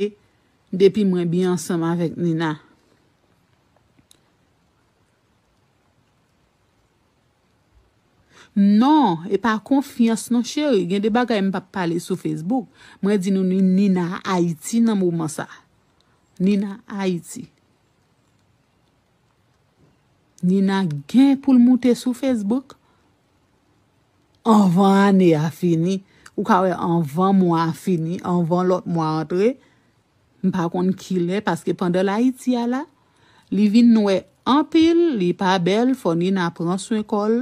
pale depi mwen byen ansanm avèk Nina. Non, e pa konfyans non cheri, gen de bagay m pap pale sou Facebook. Mwen di nou Nina Ayiti nan moman sa. Nina Ayiti. Nina gen pou l moute sou Facebook. Anvan ane a fini, ou ka wè anvan mwa a fini, anvan lòt mwa a antre, m pa konn kilè, paske pandan l Ayiti a la, li vin nwè anpil, li pa bèl, fò Nina pran swen kò l,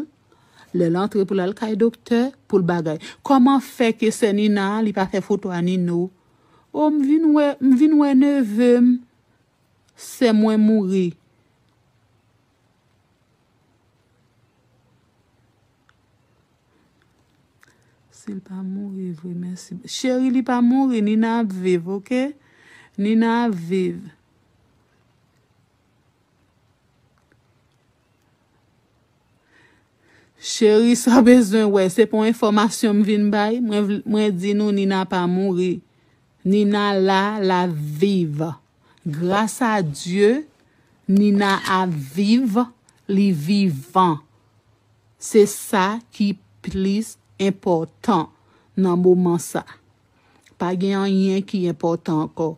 lè l antre pou l al kay doktè, pou l bagay. Kòman fè ke sè Nina a, li pa fè foto a Nino? O, m vin wè, m vin wè neve m, sè mwen mouri. Sil pa mouri vre mèsi. Cheri li pa mouri Nina ap viv ok Nina ap viv. Cheri sa w bezwen wè se pou enfòmasyon m vin bay mwen di nou Nina pa mouri Nina la lap viv. Gras a Dye Nina ap viv li vivan se sa ki plis enpòtan nan moman sa pa gen anyen ki enpòtan ankò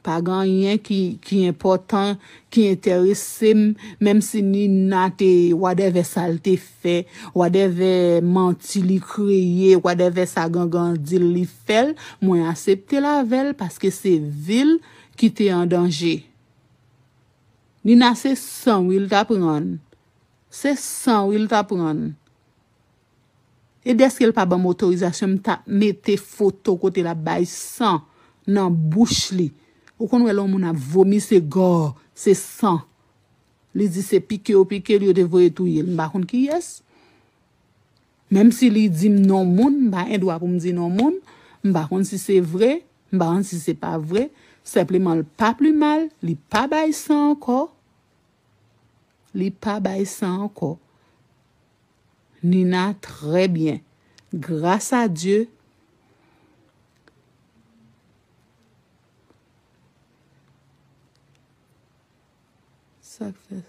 pa gen anyen ki enpòtan ki enteresem menm si Nina te wadèvè sal te fè, wadèvè manti li kreye, wadèvè sa gangan di l li fè l, mwen asepte l avè l paske se vi l ki te an danje. Nina se san wi l ta pran. Se san wi l ta pran. E dèske l pa ban m otorizasyon m ta mete foto kote l ap bay san nan bouch li. Ou konn wè lè yon moun ap vomi se gòò, se san. Li di se pike yo pike l yo te voye touye l. M pa konn kiyès. Menm si li di m non moun, m pa gen dwa pou m di non moun. M pa konn si se vre, m pa konn si se pa vre. Senpleman l pa pli mal, li pa bay san ankò. Li pa bay san ankò. Nina trè byen. Gras a Dye. Sak fè.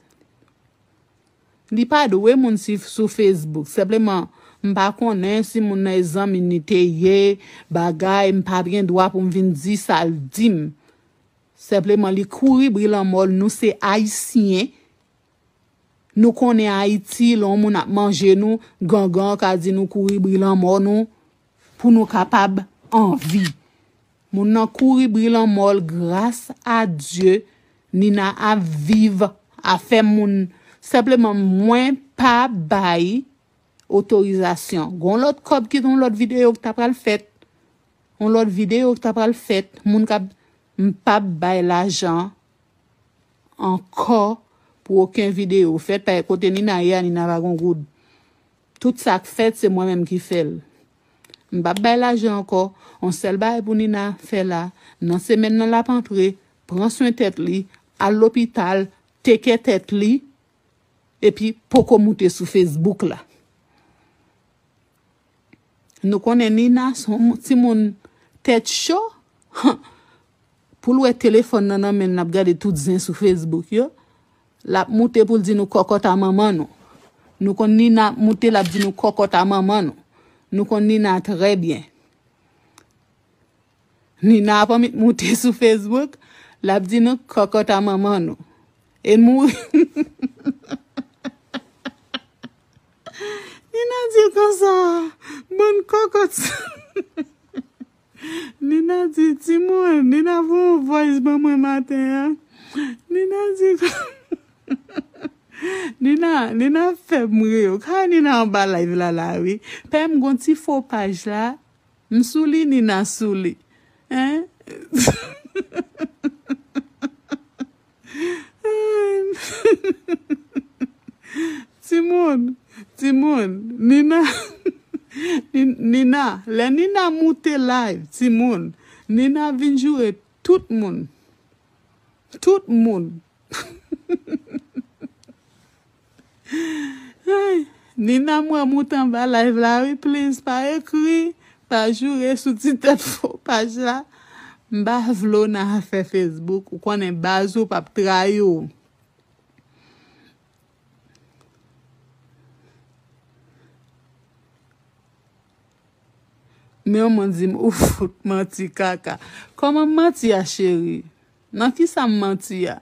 Li pa dwe moun si sou Facebook. Senpleman m pa konnen si moun nan e zanmi ni te ye, bagay, m pap gen dwa pou m vin di sa l di m. Senpleman li kouri bri lanmò l nou se ayisyen. Nou konnen Ayiti lè yon moun ap manje nou, gangan ka di nou kouri bri lanmò nou pou nou kapab anvi. Moun nan kouri bri lanmòl gras a Dye Nina ap viv afè moun senpleman mwen pa bay otorizasyon gon lòt kòb ki gon lòt video ki ta pral fèt yon lòt video ki ta pral fèt moun kap m pap bay lajan ankò pou oken video fèt paske kote Nina ye a Nina pa gon goud. Tout sak fèt se mwen menm ki fèl. M pap bay lajan ankò, on sèl bagay pou Nina fè la, nan semèn nan lap antre, pran swen tèt li, al lopital, tekè tèt li, epi poko moute sou Facebook la. Nou konnen Nina son timoun tèt cho, han, poul wè telefòn nan nan menl lap gade tout zen sou Facebook yo. Lap moute poul di nou kòkòt a manman nou nou konn Nina ap moute lap di nou kòkòt a manman nou nou konn Nina trè byen Nina ap anmit moute sou Facebook lap di nou kòkòt a manman nou e mou Nina dil konsa bann kòkòt sa. Nina di timoun Nina voye yon voice ban mwen maten an Nina di Nina Nina ap fèm ri yo ka wè Nina anba live la la wi pèm gon ti fo paj la m sou li Nina sou li hein Timoun Timoun Nina Nina Lè Nina moute live timoun Nina vin joure tout moun Tout moun. Nina m wè mout anba live la wi please pa ekri pa joure sou ti tèt fo paj la m pa vle w nan afè Facebook ou konnen baz ou pap trayi w. Men yon moun di m ou fout manti kaka. Kòman m manti a cheri? Nan kisa m manti a?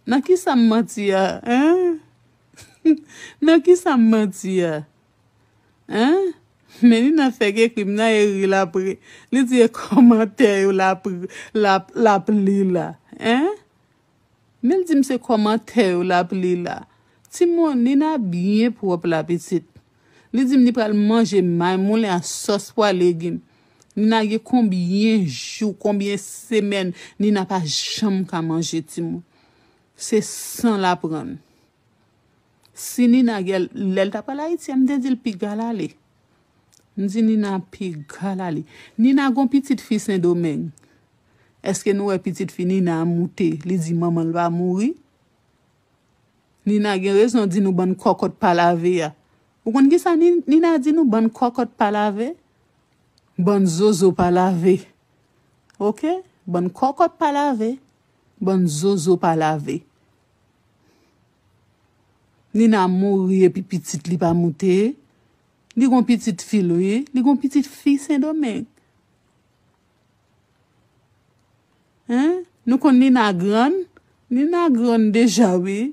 Nan kisa m manti a eeh? Nan kisa m manti a eeh? Melina fèk ekri m nan e ri l ap ri. Li di e kòmantè yo l ap l ap li la eeh? Mel di m se kòmantè yo l ap li la. Ti Moune a byen pwòp la pitit. Li dim li pral manje may moulen a sòs pwa legim Nina gen konbyen jou konbyen semèn Nina pa janm ka manje timoun se san l aprann si Nina gen lè l t ap al Ayiti a m te di l piga l ale m di Nina piga l ale Nina gon pitit fi sendomeng èske nou wè pitit fi Nina a moute li di manman l va mouri Nina gen rezon di nou bann kòkòt pa lave a ou konn kisa Nina di nou bann kòkòt pa lave bann zozo pa lave ok bann kòkòt pa lave bann zozo pa lave Nina mouri epi pitit li pa moute li gon pitit fil wi li gon pitit fi sendomeng. Hein nou konn Nina grann? Nina grann deja wi.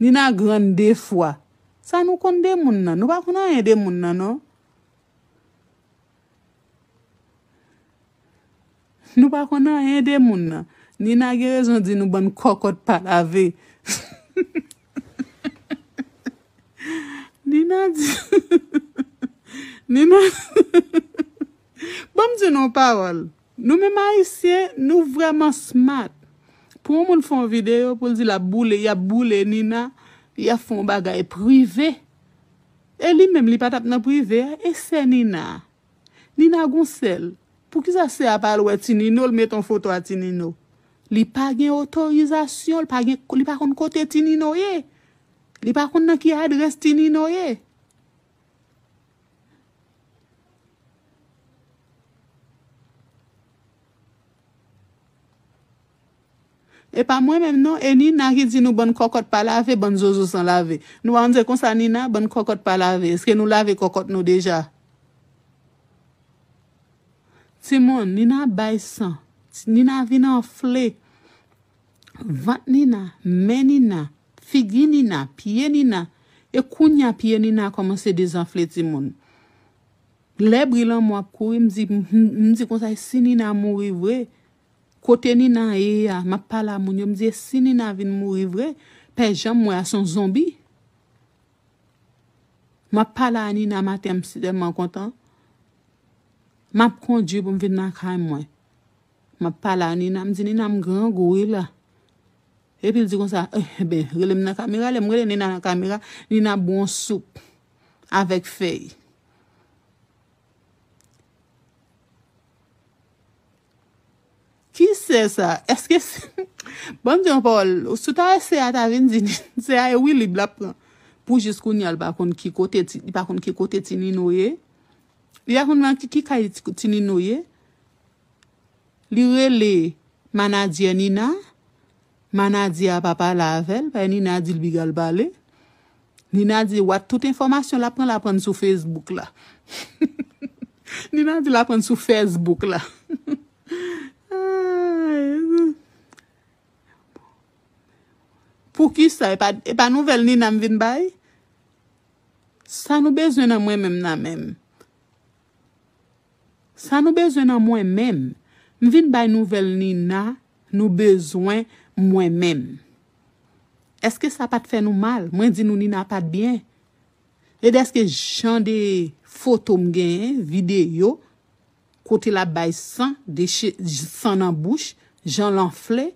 Nina grann de fwa. Sa nou konn de moun nan? Nou pa konn anyen de moun nan non. Nou pa konn anyen de moun nan. Nina gen rezon di nou bann kòkòt pa lave. Nina di Nina Banm di nou yon pawòl, nou menm ayisyen nou vrèman smart, pou yon moun fè yon video poul di lap boule, yap boule Nina, li ap fè yon bagay prive, e li menm li pa tap nan prive a, e sè Nina a? Nina gon sèl, poukisa sè a pa al wè ti Nino l met yon foto a ti Nino? Li pa gen otorizasyon, li pa gen, li pa konn kote ti Nino ye, li pa konn nan ki adrès ti Nino ye. E pa mwen menm non e Nina ki di nou bann kòkòt pa lave bann zozo san lave nou pa konn se konsa Nina bann kòkòt pa lave eske nou lave kòkòt nou deja timoun Nina bay san Nina vin anfle. Vant Nina, men Nina, figi Nina, pye Nina, e kounya pye Nina kòmanse dezanfle timoun. Lè bri lanmò ap kouri m di m di konsa e si Nina mouri vre? Kote Nina ye a? M ap pale a moun yo m di e si Nina vin mouri vre? Pè Jan m wè a son zonbi. M ap pale a Nina maten an m si tèlman kontan. M ap kondwi pou m vin lakay mwen. Map pale a Nina m di Nina m grangou wi la Epil di konsa enben relem nan kamera lèm rele Nina nan kamera Nina ap bwon soup avèk fèy. Kise sa eske banm di yon pawòl si w ta wè se a ta vin di se a e wilib lap pran pou jis kounya li pa konn ki kote ti li pa konn ki kote ti Nino ye li pa konn nan ki kay ti Nino ye. Li rele manadyè Nina, manadyè a pa pale avè l, paske Nina di l piga l pale. Nina di wat tout enfòmasyon l aprann l aprann sou Facebook la. Nina di l aprann sou Facebook la. Poukisa e pa nouvèl Nina m vin bay? Sa nou bezwen nan mwen menm nan menm? Sa nou bezwen nan mwen menm. M vin bay nouvèl Nina nou bezwen mwen menm. Eske sa pat fè nou mal. Mwen di nou Nina pat byen. E deske jan de foto m genyen, videyo, kote lap bay san, san nan bouch, jan l anfle.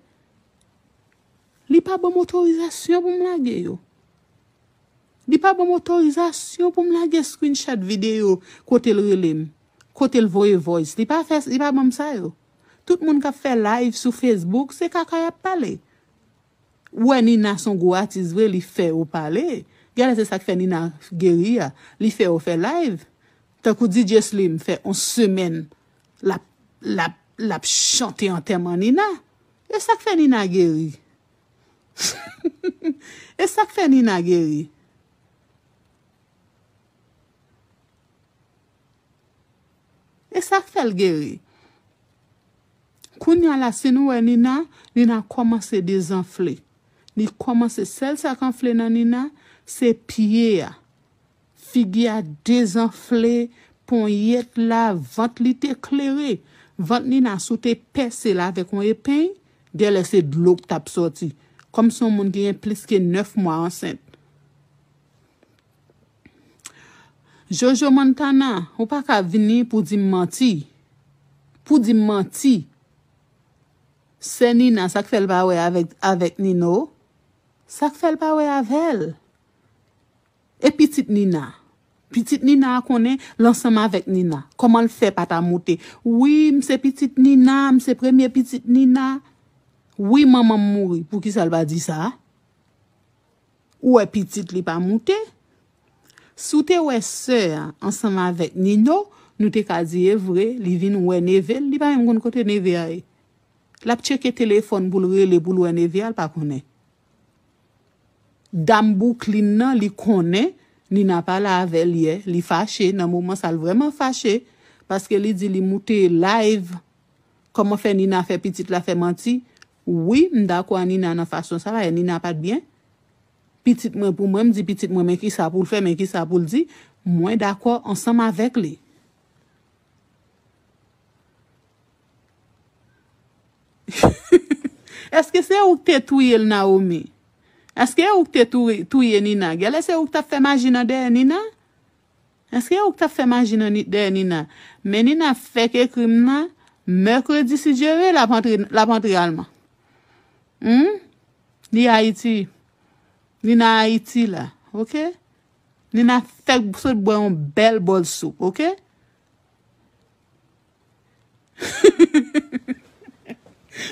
Li pa banm otorizasyon pou m lage yo. Li pa banm otorizasyon poum lage screenshot video kotel relem, kotel voye voice li pa fè li pa banm sa yo. Tout moun kap fè live sou Facebook se kaka yap pale. Ou wè Nina son gwo atis vre li fè yo pale. Gèlè se sak fè Nina geri a, li fè yo fè live. Tankou DJ Slim fè on semèn lap lap lap chante antèman Nina. E sak fè Nina geri. E sak fè Nina geri. E sak fèl geri. Kounya la si nou wè Nina, Nina kòmanse dezanfle. Li kòmanse sèl sak anfle nan Nina se pye a. Figi a dezanfle, ponyèt la, vant li te klere. Vant Nina, si w te pèse l avèk yon epeny, gèlè se dlo k t ap sòti. Kòm se yon moun ki gen plis ke nèf mwa ansent. Jojo Montana, ou pa ka vini pou w di m manti. Pou w di m manti. Sè Nina, sa k fè l pa wè avèk Nino? Sa k fè l pa wè avè l? E pitit Nina? Pitit Nina a konnen l ansanm avèk Nina. Kòman l fè pa ta moute, Wi, m se pitit Nina, m se premye pitit Nina. Wi, manman m mouri. Poukisa l pa di sa? Ou wè pitit li pa moute? Si w te wè sè a ansanm avèk Nino, nou te ka di e vre, li vin wè neve l, li pa menm konn kote neve a ye. L ap tcheke telefòn pou l rele pou l wè neve a, l pa konnen. Dam bouklin nan li konnen Nina pale avèl yè li fache nan moman sa l vrèman fache paske li di li moute live kòman fè Nina fè pitit la fè manti wi m dakò a Nina nan fason sa bagay Nina pat byen pitit mwen pou mwen m di pitit mwen men kisa pou l fè men kisa pou l di mwen dakò ansanm avèk li. Eske se ouk te touyel Naomi? Eske e ouk te touye Nina? Gèlè se ouk tap fè maji nan dèyè Nina? Eske e ouk tap fè maji nan dèyè Nina? Men Nina fèk ekrim nan Mercredi si Dieu veut lap antre lap antre alman. Humm li Haïti Nina Haïti la ok Nina fèk sot bwè yon bèl bòl soup ok.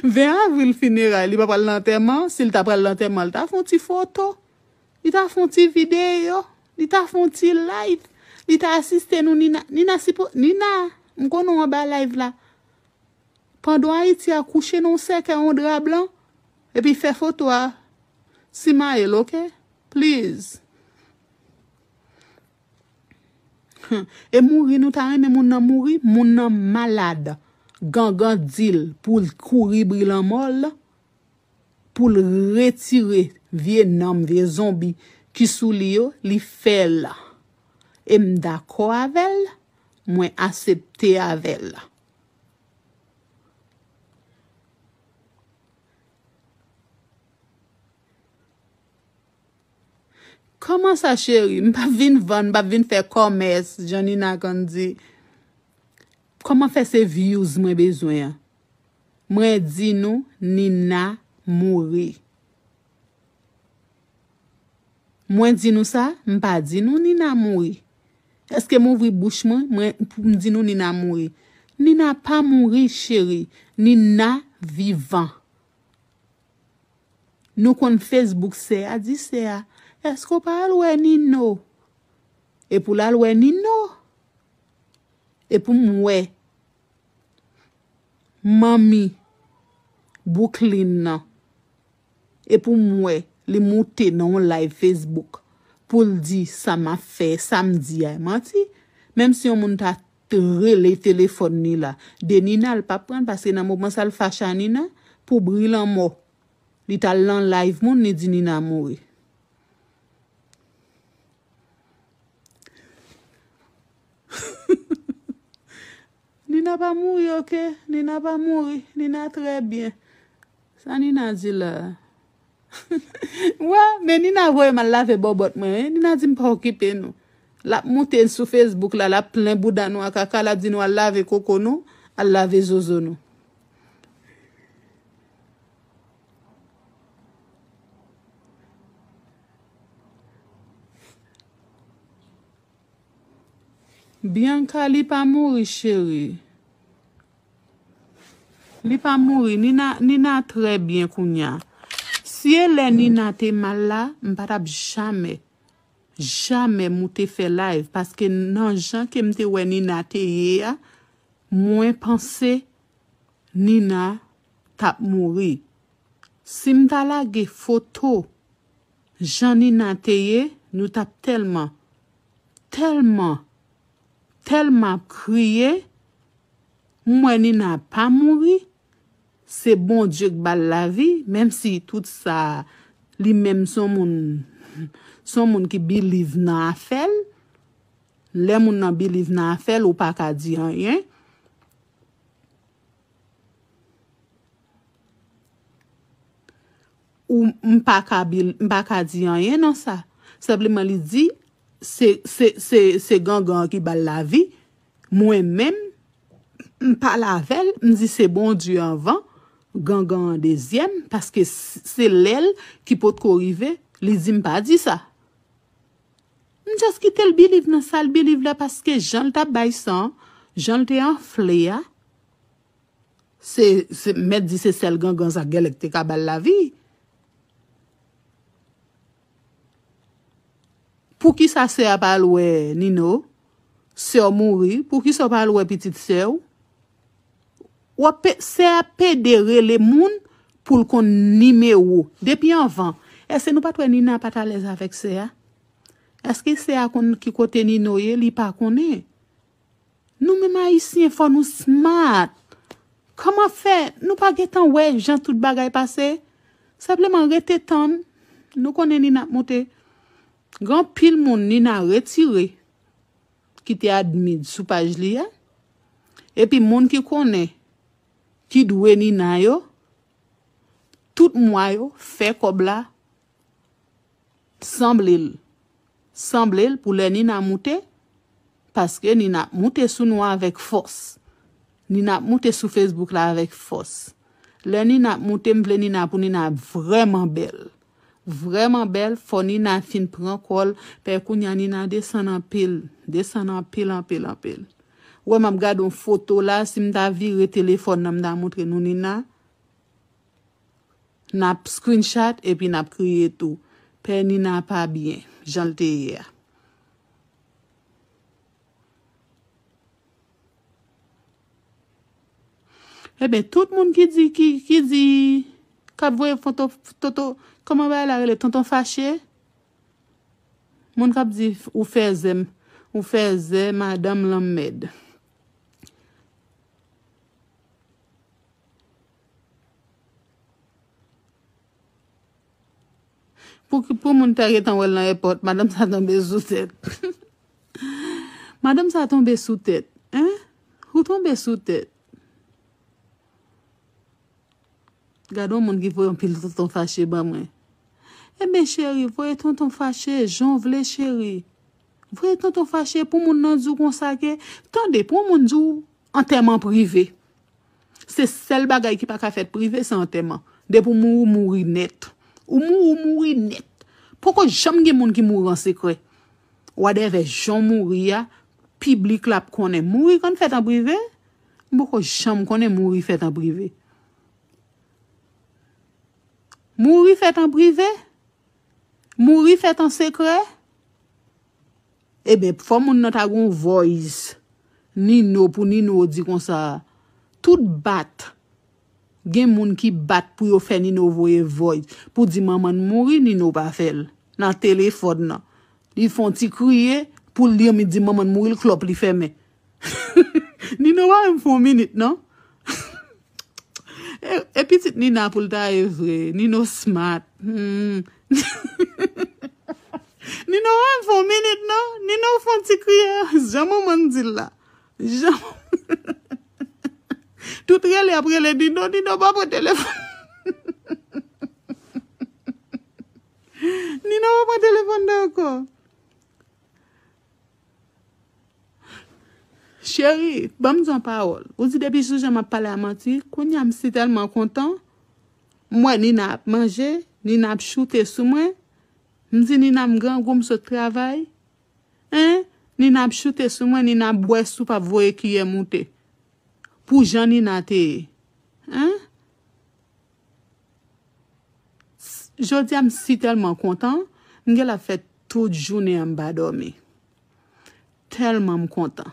20 avril fineray li pa pral nan antèman, si li ta pral nan antèman li ta fon ti foto, li ta fon ti videyo, li ta fon ti live, li ta asiste nou Nina, Nina si pou, Nina m konnen w anba live la, pandon Ayiti a kouche nan w sèkèy yon dra blan epi fè foto a simaye l ok please. Humm e mouri nou ta renmen moun nan mouri moun nan malade gangan dil poul t kouri bri lanmò l poul retire vye nanm vye zonbi ki sou li yo li fèl em dakò avèl mwen asepte avèl. Kòman sa cheri, m pap vin vann, m pap vin fè kòmès, jan Nina konn di. Kòman fè se views mwen bezwen an? Mwen di nou Nina mouri. Mwen di nou sa? M pa di nou Nina mouri. Eske m ouvri bouch mwen, mwen pou m di nou Nina mouri? Nina pa mouri cheri, Nina vivan. Nou konn Facebook sè a di sè a, Èske ou pa al wè Nino? Epi w lal wè Nino. Epi m wè manmi Bouklin nan. Epi m wè li moute nan yon live Facebook pou l di sa m ap fè, sa m di a e manti. Menmsi yon moun ta. T rele telefòn li la de Nina l pa pranl paske nan moman sa l fache a Nina pou bri lanmò li t al nan live moun li di Nina mouri. Nina pa mouri ok Nina pa mouri Nina trè byen sa Nina di la. Wè, men Nina voye m al lave bòbòt mwen wi. Nina di m pa okipe nou. L ap moute n sou Facebook la, l ap plen bouda nou a kaka, l ap di nou al lave koko nou, al lave zozo nou. Bianca li pa mouri cheri. Li pa mouri nina nina trè byen kounya si e lè nina te mal la m pa tap jamè jamè moute fè live paske nan jan kem te wè nina te ye a mwen panse nina tap mouri sim ta lage foto jan nina te ye nou tap tèlman tèlman Telman ap kriye m wè Nina pa mouri se Bondye k bal lavi menm si tout sa li menm son moun son moun ki biliv nan afèl lè moun nan biliv nan afèl ou paka di anyen. Ou m pa ka bil m pa ka di anyen nan sa senpleman li di se se se se gangan an ki bal lavi mwen menm m pale avèl m di se Bondye anvan gangan an dezyèm paske se lèl ki potko rive li di m pa di sa m just kitel biliv nan sal biliv la paske janl tap bay san janl te anfle a Se se mèt di se sèl gangan sa gèlè ki te ka bal lavi. Poukisa sè a pa al wè Nino? Sèw mouri, poukisa ou pa al wè pitit sèw? Wap pe sè a pede rele moun poul konn nimewo. Depi anvan, èske nou pat wè Nina pat alèz avèk sè a? Èske sè a konn ki kote Nino ye? Li pa konnen. Nou menm ayisyen fò nou smart kòman fè nou pa gentan wè jan tout bagay pase senpleman rete tann nou konnen Nina ap moute gen anpil moun Nina retire ki te admin sou paj li a epi moun ki konnen ki dwe Nina yo tout mwa yo fè kòb la. Sanble l Sanble l pou lè Nina moute paske Nina ap moute sou nou avèk fòs Nina ap moute sou Facebook la avèk fòs Lè Nina ap moute m vle Nina pou Nina ap vrèman bèl Vrèman bèl Fò Nina fin pran kò l pè Kounye a Nina desann anpil Desann anpil anpil anpil Wè m ap gade yon foto la Si m ta vire telefòn nan m ta montre nou Nina Nap screenshot epi nap kriye tou. Pè Nina pa byen janl te ye a. Ebyen tout moun ki di ki di kap voye foto toto kòman bagay la rele tonton fache moun kap di ou fèzè ou fèzè madanm lanmmèd. Pouki pou moun ta gentan wèl nan èpòt madanm sa tonbe sou tèt madanm sa tonbe sou tèt hein ou tonbe sou tèt gade yon moun ki voye yon pil tonton fache ban mwen eben cheri voye tonton fache jan w vle cheri voye tonton fache pou moun nan di w konsa ke tande pou yon moun di w antèman prive. Se sèl bagay ki pa ka fèt prive se antèman. Depi w mouri, w mouri nèt. Ou mouri, w mouri nèt. Poko janm gen moun ki mouri an sekrè. Wadèvè jan w mouri a, piblik la ap konnen. Mouri konn fèt an prive? M poko janm konnen mouri fèt an prive. Mouri fèt an prive? Mouri fèt an sekrè? Eben fò moun nan ta gon voice Nino pou Nino di konsa tout bat gen moun ki bat pou yo fè Nino voye voice pou di manman n mouri Nino pa fèl nan telefòn nan li fon ti kriye poul di manman n mouri l klòp li fèmen. Nino pa menm fon minit non. E pitit Nina poul ta ye vre. Nino smart. Nino pa menm fon minit non. Nino fon ti kriye. Jan manmann di l la. Jan Tout rele ap rele Nino. Nino pa pran telefon. Nino pa pran telefon nan anko. Cheri, ban m di yon pawòl. Ou di depi jou jan m ap pale a manti, kounye a m si tèlman kontan, m wè Nina ap manje, Nina ap choute sou mwen, m di Nina m grangou m sot travay, en, Nina ap choute sou mwen, Nina ap bwè soup ap voye kiyè moute. Pou jan Nina te ye. En. Jodia m si telman kontan m gela ap fè tout jounen an m pa domi telman m kontan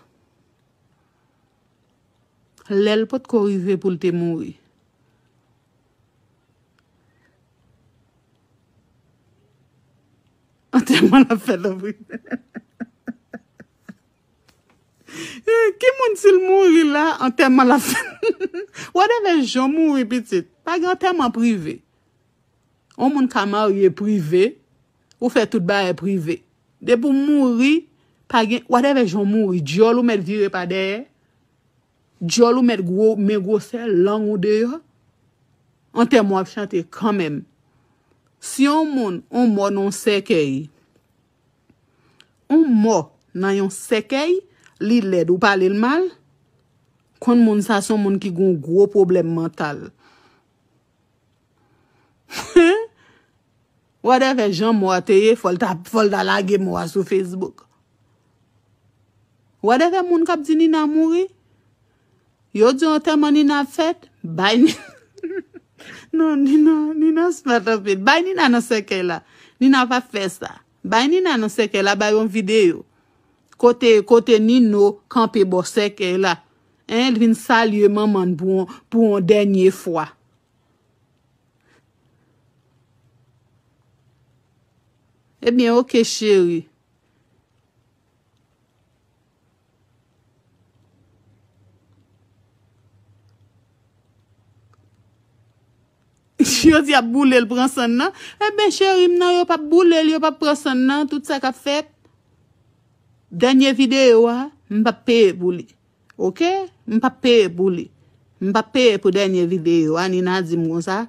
lèl potko rive poul te mouri. Ki moun sil mouri la antèman lap fèt whatever jan mouri pitit pa gen antèman prive on moun ka marye prive ou fè tout bagay prive depi ou mouri pa gen whatever jan ou mouri dyòl ou mèt vire pa dèyè dyòl ou mèt gwo men gwosè lang ou deyò antèman w ap chante kanmenm si on moun on mò nan yon sèkèy. On mò nan yon sèkèy li lèd ou palel mal konn moun sa son moun ki gon gro pwoblèm mantal hein whatever jan mò a te ye fòl ta fòl ta lage mò a sou Facebook whatever moun kap di Nina mouri. Yo di antèman Nina ap fèt, bay Nina Non Nina, Nina smart anpil Bay Nina nan sèkèy la Nina pa fè sa Bay Nina nan sèkèy la Bay yon videyo Kote, kote Nino kanpe bò sèkèy la Hein, l vin salye manman l pou yon, pou yon dènye fwa. Ebyen ok cheri. Yo di yap boulel pran sann nan. Eben cherim nan yo pap boulel yo pap pran sann nan tout sa kap fèt. Dènye video a m pap peye pou li ok m pap peye pou li m pap peye pou dènye video a Nina dim konsa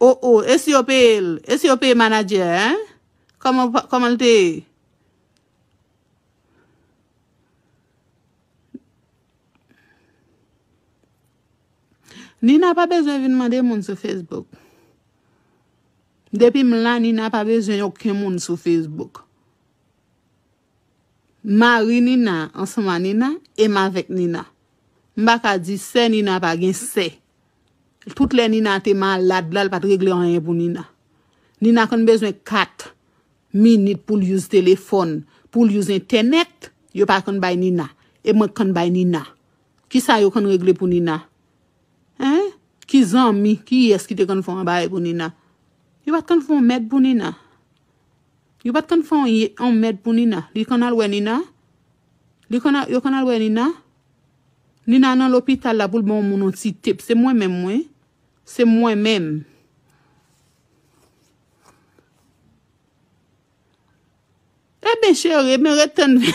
Oh oh esi yo peye l esi yo peye manadjè a hein kòman kòman l te ye Nina pa bezwen vin mande moun sou Facebook depi m la Nina pa bezwen oken moun sou Facebook. Mari Nina ansanm a Nina e m avèk Nina. M pa ka di sè Nina pa gen sè. Tout lè Nina te malad la, l pa t regle anyen pou Nina. Nina konn bezwen kat minit pou l use telefòn, pou l use entènèt, yo pa konn bay Nina. E mwen k konn bay Nina. Ki sa yo konn regle pou Nina? Hein? Ki zanmi, kiyès ki te konn fè yon bagay pou Nina? Yo pa t konn fè yon mèd pou Nina. Yo pat konn fè yon mèd pou Nina li konn al wè Nina li konn al yo konn al wè Nina Nina nan lopital la poul ba yon moun yon ti tep se mwen menm wi se mwen menm. Ebyen cheri ebyen ret tann vin.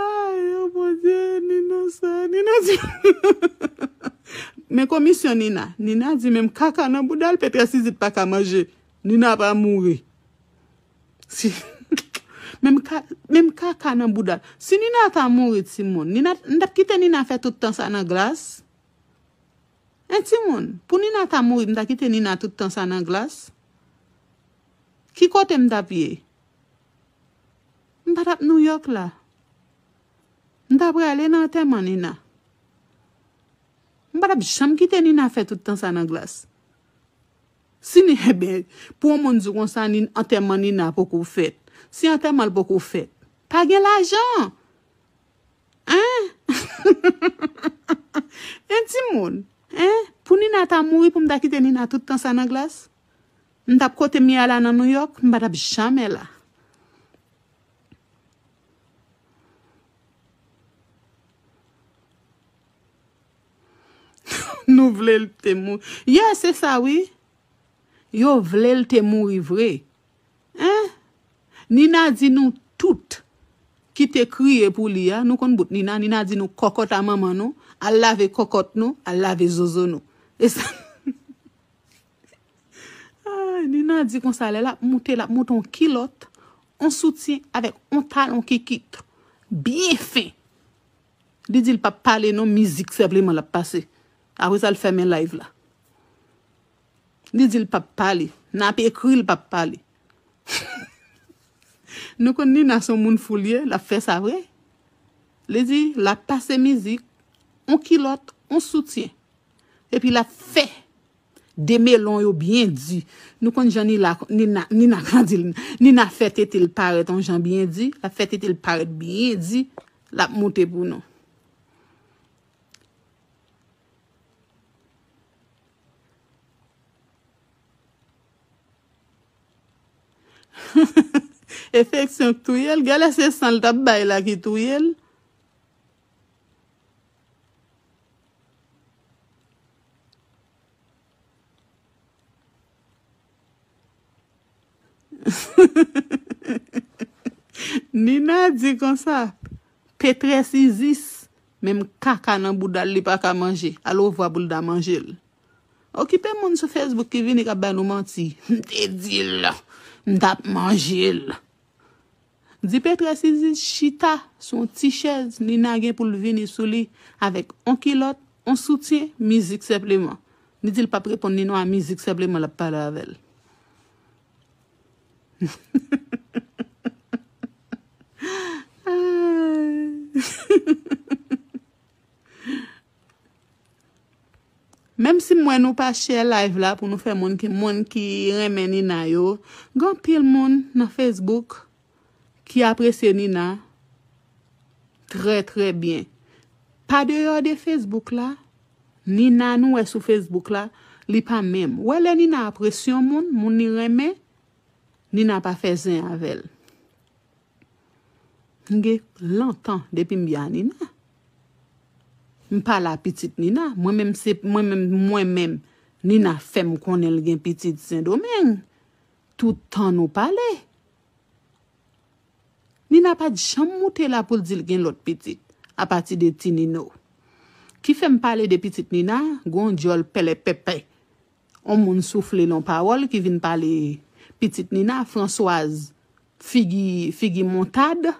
Ayy oh mon Dieu Nina sa Nina di Men komisyon Nina Nina di menm kaka nan boudal Petra Sizit paka manje Nina pa mouri Si Menm ka menm kaka nan boudal Si Nina ta mouri ti moun Nina nou tap kite Nina fè tout tan sa nan glas Hein ti moun Pou Nina ta mouri m ta kite Nina tout tan sa nan glas Ki kote m tap ye. M pa t ap Nouyòk la. M ta prale nan antèman Nina. M pa t ap janm kite Nina fè tout tan sa nan glas. Si Ni, enben, pou yon moun di w konsa, Ni, antèman Nina poko fèt. Si antèman l poko fèt. Pa gen lajan! Hein? Hein, timoun? Hein? Pou Nina ta mouri pou m ta kite Nina tout tan sa nan glas? M tap kotem ye a la nan nouyòk m pa tap jamè la. Nou vle l te mouri. Yeah se sa wi. Yo vle l te mouri vre. Hein. Nina di nou tout ki te kriye pou li a, nou konn bout Nina, Nina di nou kòkòt a manman nou, al lave kòkòt nou, al lave zozo nou. E sa. Nina di konsa lè lap moute lap moute yon kilòt, yon soutyen avèk yon talon kikit byen fen. Li di li pap pale non mizik senpleman lap pase. Apre sa li fèmen live la. Li di li pap pale. Nap ekri li pap pale. Nou konn Nina se yon moun fou li ye, lap fè sa vre. Li di lap pase mizik, yon kilòt, yon soutyen. Epi lap fè. 2 melon yo byen di nou konn jan nina nina pran di nina fè tetel parèt on jan byen di lap fè tetel parèt byen di lap moute pou nou. Efeksyon k touyel gèlè se sanl tap bay la ki touyel. Nina di konsa, Pétresse Isis, menm kaka nan bouda l li pa ka manje, alovwa pou l ta manje l. Okipe moun sou Facebook ki vini k ap bay nou manti. M te di l, m t ap manje l. Dipetre si li chita sou yon ti chèz Nina gen poul vini sou li avèk on kilòt, on soutyen, mizik senpleman. Li dil pap reponn li non a mizik senpleman lap pale avèl. Menm si m wè nou pa share live la pou nou fè moun ki moun ki renmen Nina yo gen anpil moun nan Facebook ki apresye Nina trè trè byen pa deyò de Facebook la Nina nou wè sou Facebook la li pa menm ou wè lè Nina apresye yon moun moun li renmen Nina pa fè zen avèl m gen lontan depi m byen a Nina. M pa la pitit Nina. Mwen menm se mwen menm mwen menm Nina fèm konnen l gen pitit sendomeng. Tout tan nou pale. Nina pat janm moute la pou l di l gen lòt pitit. A pati de ti Nino. Ki fèm pale de pitit Nina gon dyòl pèlèpèpè. On moun soufle l on pawòl ki vin pale pitit Nina Françoise figi figi montad.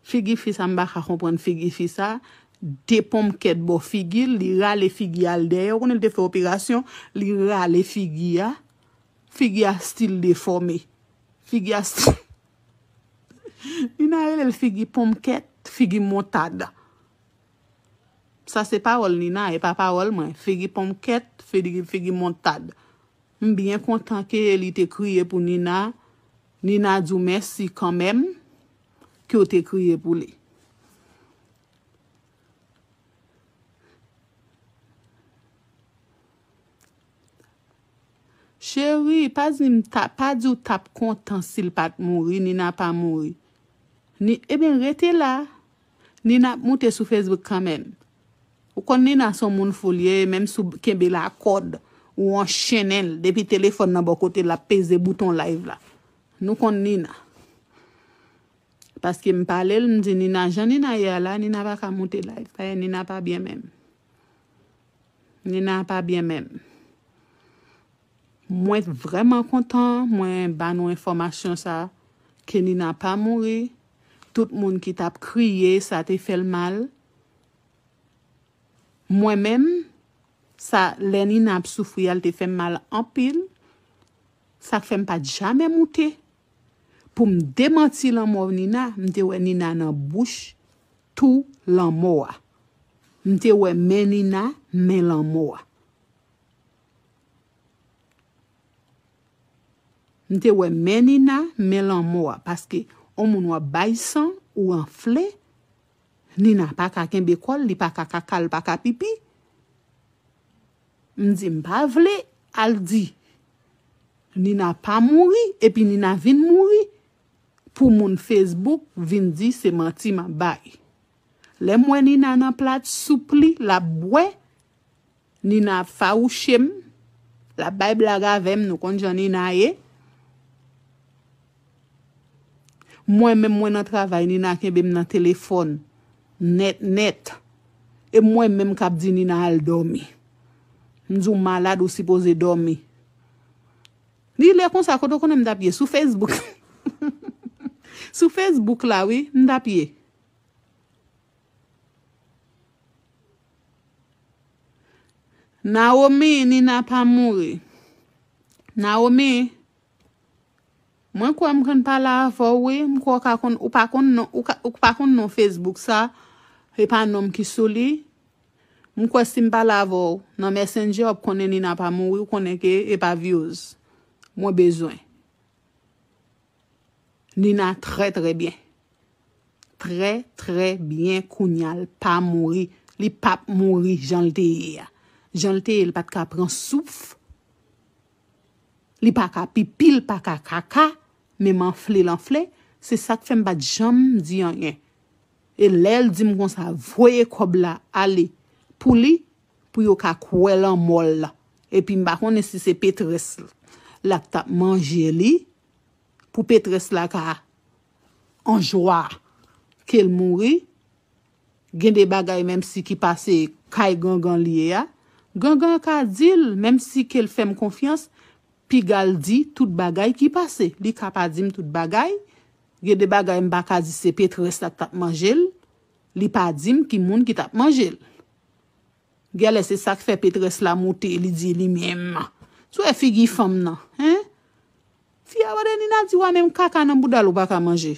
Figi fi sa m paka konprann figi fi sa de ponm kèt bò figi l li rale figi al dèyè ou konnen l te fè operasyon li rale figi a figi a stil defòme figi a stil Nina rele l figi ponm kèt figi montad sa se pawòl Nina e pa pawòl mwen figi ponm kèt figi montad m byen kontan ke li te kriye pou Nina Nina di w mèsi kanmèm. ke yo te kreye pou li. Cheri, pa di m ta, pa di w tap kontan si l pat mouri, Nina pa mouri. Ni, eben rete la, Nina ap moute sou Facebook kanmenm. Ou konn Nina son moun fou li ye, menm si w kenbe l a kòd, ou anchennen l, depi telefòn nan bò kote l ap peze bouton live la. Nou konn Nina. Paske m pale l, m di Nina jan Nina ye a la, Nina pa ka moute live. Dayè Nina pa byen menm. Nina pa byen menm. Mwen vrèman kontan mwen ba nou enfòmasyon sa a ke Nina pa mouri. Tout moun ki t ap kriye sa te fè l mal. Mwen menm, sa lè Nina ap soufri a l te fè m mal anpil. Sak fè m pat jamè moute pou m demanti lanmò Nina, m te wè Nina nan bouch tou lanmò a. M te wè men Nina men lanmò a. M te wè men Nina men lanmò a paske on moun wap bay san ou anfle Nina paka kenbe kòl li paka kaka li paka pipi. M di m pa vle al di Nina pa mouri epi Nina vin mouri pou moun Facebook vin di se manti map bay. Lè m wè Nina nan plat soup li lap bwè, Nina ap fawouche m, lap bay blag avè m, nou konn jan Nina ye. Mwen menm mwen nan travay Nina kenbem nan telefòn nèt nèt e mwen menm kap di Nina al dòmi m di w malad ou sipoze dòmi li lè konsa kote w konnen m tap ye sou Facebook sou Facebook la wi m tap ye Naomi Nina pa mouri Naomi. Mwen kwè m konn pale avè w wi, m kwè w ka konn, ou pa konn non, ou ka, ou k pa konn non Facebook sa, e pa non m ki sou li, m kwè si m pale avè w nan Messenger w ap konnen ni nan pa m ou wi, ou konnen ke e pa vyoz mwen bezwen. Nina trè trè byen. Trè trè byen kounya l pa mouri, li pap mouri jan l te ye a. Jan l te ye l pat ka pran souf. Li pa ka pipi l pa ka kaka menm anfle l anfle se sak fè m pat janm di anyen e lè l di m konsa voye kòb la ale pou li pou yo ka kwè lanmò l epi m pa konnen si se petrès l lap tap manje li pou petrès la ka anjwa ke l mouri Gen de bagay menm si ki pa se kay gangan li ye a, gangan an ka di l menm si ke l fè m konfyans, piga l di tout bagay ki pase. Li ka pa di m tout bagay, gen de bagay m pa ka di se Pétresse la k t ap manje l, li pa di m ki moun ki t ap manje l. Gèlè se sa k fè Pétresse la moute li di li menm. Sou wè figi fanm nan, hein? Fi a mande Nina di wa menm kaka nan bouda l ou pa ka manje?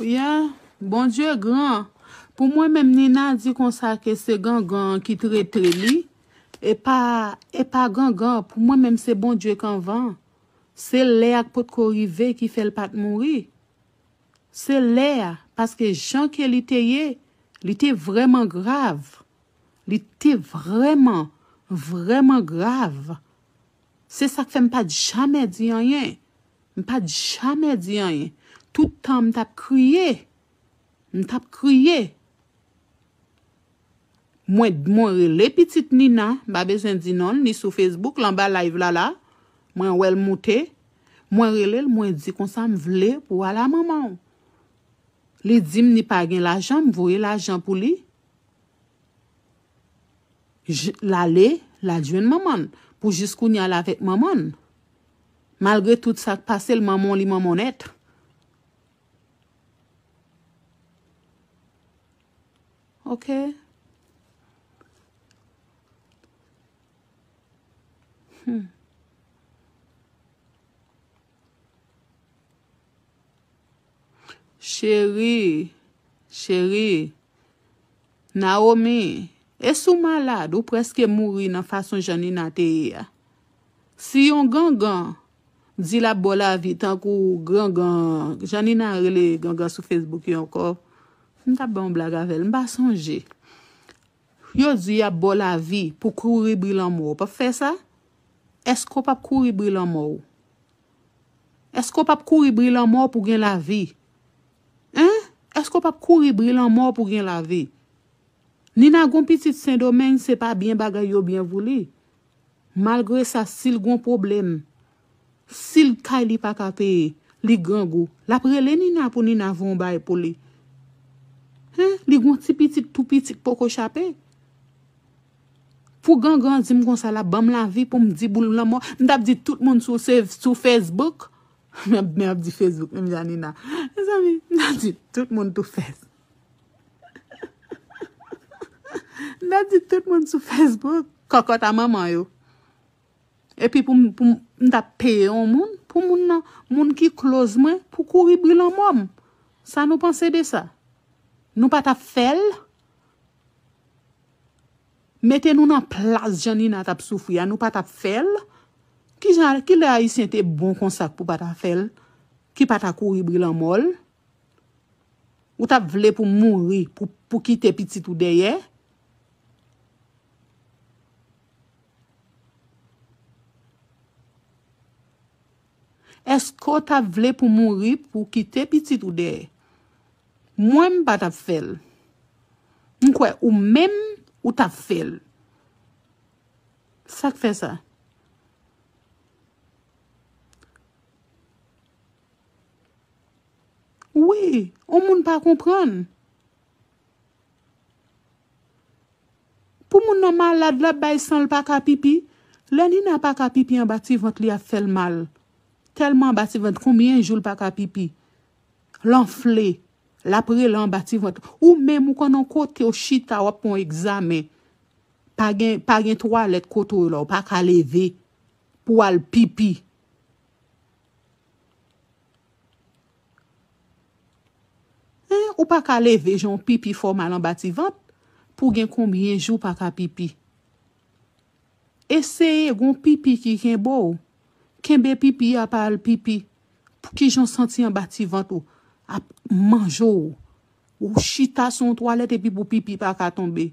Yeah Bondye gran Pou mwen menm Nina di konsa ke se gangan an ki trete li e pa e pa gangan pou mwen menm se Bondye k anvan se lè a k potko rive ki fè l pat mouri se lè a paske jan ke li te ye li te vrèman grav li te vrèman vrèman grav se sa k fè m pat jamè di anyen M pat jamè di anyen. Tout tan m tap kriye. M tap kriye. Mwen t mwen rele pitit Nina, m pa bezwen di non l, li sou Facebook l anba live la la. Mwen wè l moute. Mwen rele l mwen di konsa m vle pou w al a manman w. Li di m li pa gen lajan, m voye lajan pou li. L ale, l al jwenn manman l. Pou jiskounya l avèk manman l. Malgre tout sak pasel manman w li manman w nèt. Ok. Hum. Chérie. Chérie. Naomi. Esi w malad? Ou preske mouri nan fason Janina te ye a. Si yon gangan di lap baw lavi tankou gangan jan nina rele gangan sou facebook yo ankò m tap bay yon blag avèl m pa sonje yo di yap baw lavi pou kouri bri lanmò ou pap fè sa èske ou pap kouri bri lanmò ou èske ou pap kouri bri lanmò pou gen lavi hein èske ou pap kouri bri lanmò pou gen lavi nina gon pitit sendomeng se pa byen bagay yo byen vou li. Malgre sa sil gon pwoblem sil kay li paka peye li grangou lap rele Nina pou Nina van on bay pou li hein li gon ti pitit tou pitit poko chape pou gangan dim konsa lap banm lavi poum di boul lanmò mtap di tout moun sou se sou Facebook map di Facebook menm jan Nina mezanmi mtap di tout moun tou fes. Nan di tout moun sou Facebook. Kòkòt a manman yo. Epi pou m ta peye yon moun, pou moun nan, moun ki close mwen, pou kouri bri lanmò m. Sa nou panse de sa? Nou pa ta fè l? Mete nou nan plas jan Nina tap soufri a, nou pa ta fè l? Ki jan, ki lè Ayisyen te bon konsa k pou pa ta fè l? Ki pa ta kouri bri lanmò l? Ou tap vle pou mouri pou pou kite pitit ou dèyè? Eske w tap vle pou mouri pou kite pitit ou dèyè? Mwen m pa tap fè l. M kwè ou menm ou tap fè l. Sak fè sa? Wi, on moun pa konprann. Pou moun nan malad lap bay san l pa ka pipi, lè Nina pa ka pipi anba ti vant li ap fè l mal, tèlman anba ti vant konbyen jou l pa ka pipi, l anfle, lap rele anba ti vant, ou menm ou konn on kote ou chita wap pran on egzamen, pa gen twalèt kote w la ou pa ka leve pou al pipi. Hein ou paka leve jan w pipi fè w mal anba ti vant pou w gen konbyen jou w paka pipi. Eseye gen w pipi ki kenbe w, kenbe pipi a pa al pipi pou kijan w santi anba ti vant ou ap manje w, ou chita sou yon twalèt epi pou pipi paka tonbe.